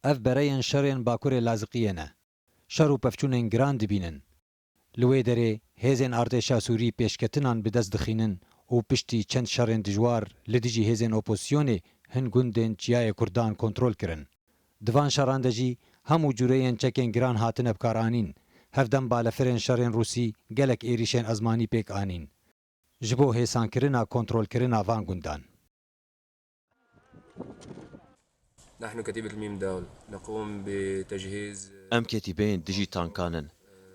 Ev bereyên şerên Bakurê Laziqiyê ne. Şer û pevçûnên giran dibînin. Li wê derê hêzên artêşa Sûrî pêşketinan bi dest dixînin û piştî çend şerên dijwar li dijî hêzên opozîsyonê hin gundên Çiyayê Kurdan kontrol kirin. Di van şeran de jî hemû cureyên çekên giran hatine bikaranîn. Hevdem balefirên şerên Rûsî gelek êrîşên ezmanî pêk anîn ji bo hêsankirina kontrolkirina van gundan. Em ketîbeyên dijî tankan in.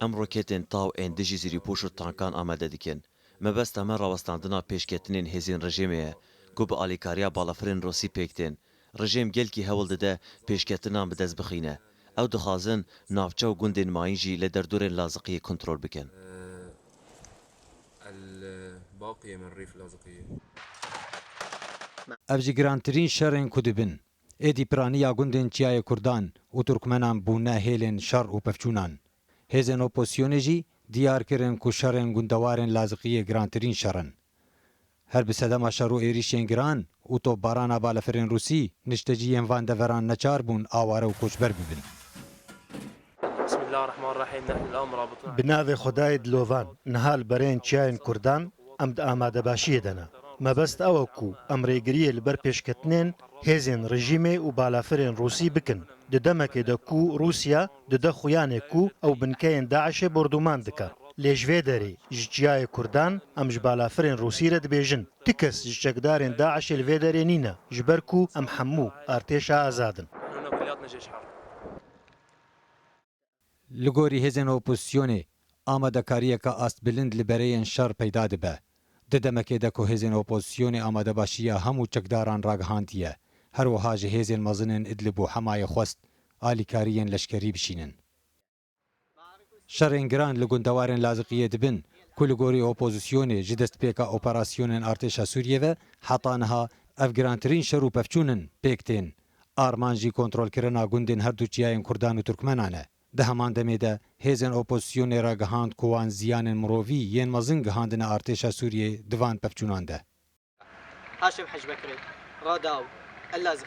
Em roketên taw ên dijî zîrîpoş û tankan amade dikin. Mebesta me rawestandina pêşketinên hêzên rejêmê ye ku bi alîkariya balafirên Rûsî pêk tên. Rejêm gelkî hewl dide pêşketinan bi dest bixîne. Ew dixwazin navçe û gundên mayîn jî li derdorên Laziqiyê kontrol bikin. Ev ji girantirîn şerên ku dibin. Êdî piraniya gundên Çiyayê Kurdan û Turkmenan bûne hêlên şer û pevçûnan. Hêzên opozîsyonê jî diyar kirin ku şerên gundewarên Laziqiyê girantirîn şer in. Her bi sedema şer û êrîşên giran û topbarana balefirên Rûsî, niştecî yên van deveran neçar bûn aware û koçber bibin. Bi navê Xwedayê dilovan, niha li berên çiyayên Kurdan em di amadebaşiyê de ne. Mebest ew e ku em rêgiriyê li ber pêşketinên hêzên rejîmê û balafirên Rûsî bikin, di demekê de ku Rûsya, Dide xuyanê ku ew binkeyên DAIŞ'ê bordûman dike. Lê ji vê derê ji çiyayê Kurdan em ji balafirên Rûsî re dibêjin, tu kes ji çekdarên DAIŞ'ê li vê derê nîne ji ber ku em hemû artêşa azad in. Li gorî hêzên opozîsyonê, amadekariyeke astbilind li bereyên şer peyda dibe. Di demekê de ku hêzên opozîsyonê amadebaşiya hemû çekdaran ragihandiye, her wiha ji hêzên mezin ên Idlib û Hemayê xwest alîkarî yên leşkerî bişînin. Şerên giran li gundewarên Laziqiyê dibin ku li gorî opozîsyonê ji destpêka operasyonên artêşa Sûriyê ve heta niha ev girantirîn şer û pevçûn in pêk tên. Armanc jî kontrolkirina gundên herdu çiyayên kurdan û turkmenan e. Di heman demê de hêzên opozîsyonê ragihand ku wan ziyanên mirovî yên mezin gihandine artêşa Sûriyeyê di van pevçûnan de.